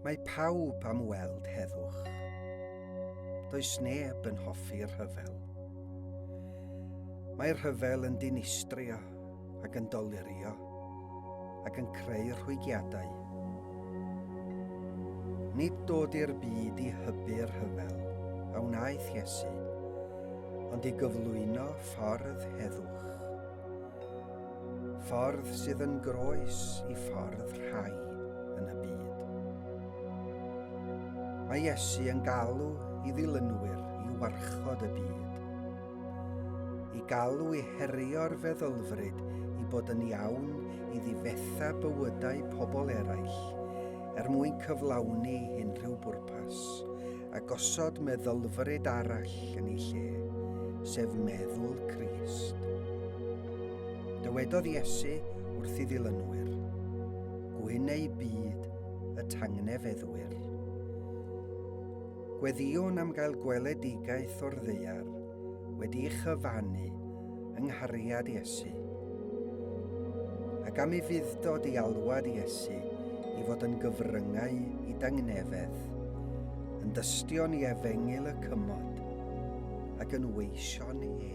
Mae pawb am weld heddwch. Does neb yn hoffi rhyfel. Mae rhyfel yn dinistrio ac yn dolirio ac yn creu rhwygiadau. Nid dod i'r byd i hybu'r rhyfel a wnaeth Iesu, ond i gyflwyno ffordd heddwch. Ffordd sydd yn groes i ffordd rhai yn y byd. Mae Iesu yn galw i ddilynwyr i warchod y byd. I galw i herio'r feddylfryd i bod yn iawn i ddifetha bywydau pobl eraill er mwyn cyflawni unrhyw bwrpas a gosod meddylfryd arall yn ei lle, sef meddwl Crist. Dywedodd Iesu wrth i ddilynwyr, Gwyn ei byd y tangnefeddwyr. Gweddiwn am gael gweledigaeth o'r ddeiar wedi chyfannu yng nghariad Iesu, ac am i fuddod i alwad Iesu i fod yn gyfryngau i dangnefedd, yn dystion i efengyl y cymod, ac yn weision edd.